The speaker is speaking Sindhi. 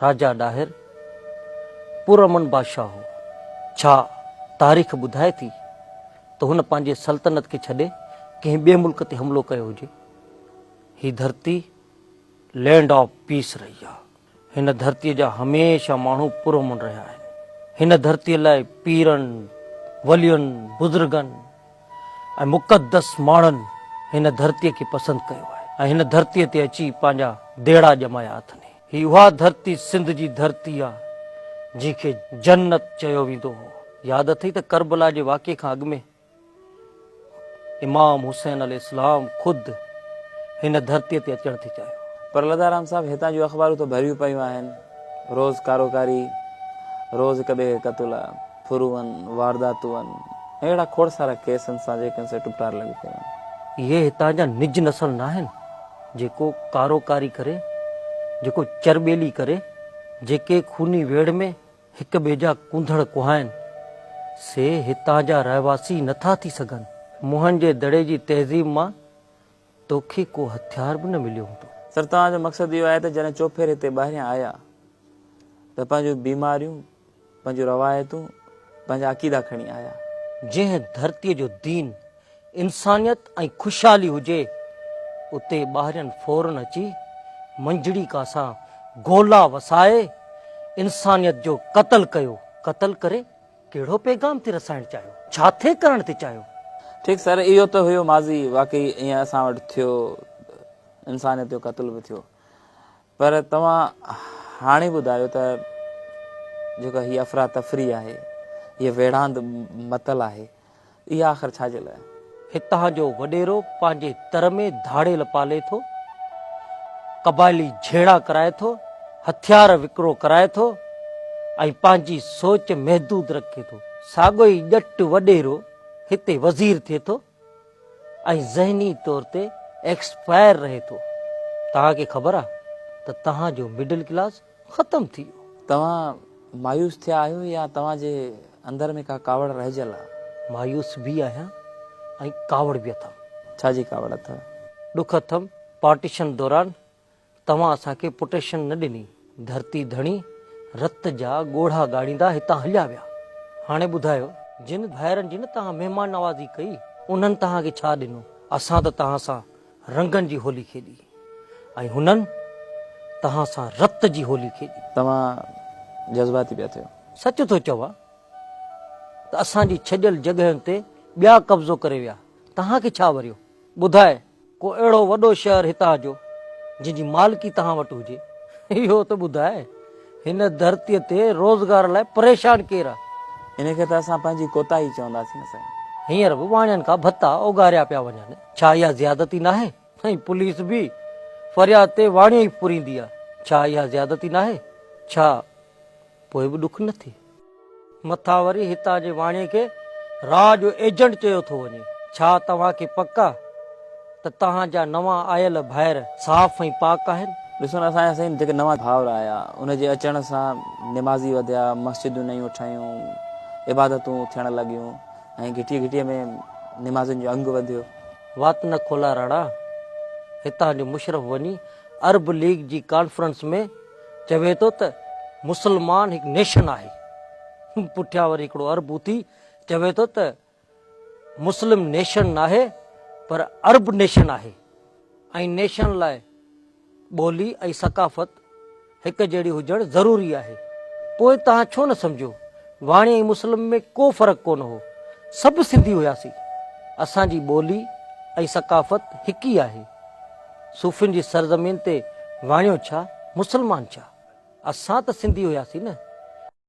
راجا ڏاهر پرامن بادشاهه هو. ڇا تاريخ ٻڌائي ٿي ته هن پنهنجي سلطنت کي ڇڏي ڪنهن ٻئي ملڪ تي حملو ڪيو هجي؟ هي ڌرتي لينڊ آف پيس رهي آهي. هن ڌرتي جا هميشه ماڻهو پرامن رهيا آهن. هن ڌرتي لاء پيرن، ولين، بزرگن، ۽ مقدس ماڻهن هن ڌرتيء کي پسند ڪيو آهي ۽ هن ڌرتيء تي اچي پنهنجا ديڙا ڄمايا اٿني. هي اها ڌرتي سنڌ جي ڌرتي آ جنهن کي جنت چيو ويندو هو. ياد اٿئي ته ڪربلا جي واقعي کان اڳ ۾ امام حسين عليه السلام خود هن ڌرتيء تي اچڻ ٿي چاهيو. پر لڌارام صاحب هتان جون اخبارون ته ڀريون پيون آهن. روز ڪاروڪاري، روز هڪ ٻئي کي قتل، ڦرون، وارداتون ۽ اهڙا کوڙ سارا ڪيس ان سان جيڪن سي ٽپٽار لڳي پيو آهن. اهي هتان جا نج نسل ناهن، جيڪو ڪاروڪاري ڪري، جيڪو چرٻيلي ڪري، جيڪي خوني ويڙهه ۾ هڪ ٻئي جا ڪونڌڙ ڪهائن. سي هتان جا رهواسي نه ٿا ٿي سگهن. موهن جي دڙي جي تهذيب مان توکي ڪو هٿيار به نه مليو هوندو. سر توهان جو مقصد اهو آهي ته جڏهن چوپهر هتي ٻاهريان آيا ته پنهنجون بيماريون، پنهنجون روايتون، پنهنجا عقيدا کڻي آيا. جنهن ڌرتي جو دين، انسانيت ۽ خوشحالي هجي اتي ٻاهرين فورن اچي منجهڙي ڪا سان گولا وسائي انسانيت جو قتل ڪيو، قتل ڪري ڪهڙو پيغام ٿي رسائڻ چاهيو؟ ڇا ٿي ڪرڻ ٿي چاهيو؟ ٺيڪ سر اهو ته هيو ماضي واقعي ائين اسان وٽ ٿيو انسانيت جو قتل به ٿيو پر توهان هاڻي ٻڌايو ته جيڪا هي افراتفري آهي هي ويڙهاند متل آهي اهي آخر ڇا جي لاء؟ هتان جو وڏيرو پنهنجي تر ۾ ڌاڙيل پالي ٿو، قبائلي جهيڙا ڪرائي ٿو، هٿيار وڪرو ڪرائي ٿو ۽ پنهنجي سوچ محدود رکي ٿو. ساڳيو ئي ڄٽ وڏيرو هتي وزير ٿئي ٿو ۽ ذهني طور تي ايڪسپائر رهي ٿو. توهان کي خبر آهي ته توهان جو مڊل ڪلاس ختم ٿي ويو. توهان مايوس ٿيا آهيو يا توهان جي اندر ۾ ڪا ڪاوڙ رهجيل آ؟ مايوس به آهيان ۽ ڪاوڙ به اٿم. ڇا جي ڪاوڙ اٿئو؟ ڏک اٿم، پارٽيشن دوران توهان اسان کي پٽيشن نه ڏني، ڌرتي ڌڻي رت جا ڳوڙها ڳاڙيندا هتان هليا ويا، هاڻي ٻڌايو، جن ڀائرن جي نه توهان مهمان نوازي ڪئي، انهن توهان کي ڇا ڏنو، اسان ته توهان سان رنگن جي هولي کيڏي. ۽ هنن توهان سان رت جي هولي کيڏي. توهان جذباتي پيا ٿيو. سچ ٿو چوان ته اسان جي ڇڏيل جڳهين تي ٻيا قبضو ڪري ويا توهان کي ڇا وريو ٻڌاء ڪو اهڙو وڏو شهر هتان جو جنهن جي مالڪي توهان وٽ هجي اهو ته ٻڌاء هن ڌرتي تي روزگار لاء پريشان ڪير آ. ان کي ته اسان پنهنجي ڪوتاهي چونداسين سائين. هينئر به واڻين کان ڀتا اوڳاريا پيا وڃن. ڇا اها زيادتي ناهي؟ ۽ پوليس به فرياد تي واڻيو ئي ڦريندي آ، ڇا اها زيادتي ناهي؟ ڇا پوء به ڏک نه ٿئي؟ مٿان وري هتان جي واڻيي کي راء جو ايجنٽ چيو ٿو وڃي. ڇا توهان کي پڪ آ ته توهان جا نوان آيل ڀائر صاف ۽ پاڪ آهن؟ ڏسو نه سائين سائين جيڪي نوان ڀائر آيا ان جي اچڻ سان نمازي وڌيا، مسجدون نيون ٺهيون، عبادتون ٿيڻ لڳيون، ائين گهٽيء گهٽيء ۾ نمازين جو انگ وڌيو. وات نه کولا راڻا، هتان جو مشرف وڃي عرب ليگ جي ڪانفرنس ۾ چوي ٿو ته مسلمان هڪ نيشن آهي، پٺيان وري هڪڙو عرب اٿي چوي ٿو ته مسلم نيشن ناهي پر عرب نيشن آهي ۽ نيشن لاء ٻولي ۽ ثقافت هڪ جهڙي هجڻ ضروري آهي. پوء توهان ڇو نه سمجهو؟ واڻي ۽ مسلم ۾ ڪو فرق ڪونه هو. سڀ سنڌي هياسين. اسان جي ٻولي ۽ ثقافت هڪ ئي آهي. صوفين جي سرزمين تي واڻيو ڇا، مسلمان ڇا؟ اسان ته سنڌي هياسين نه.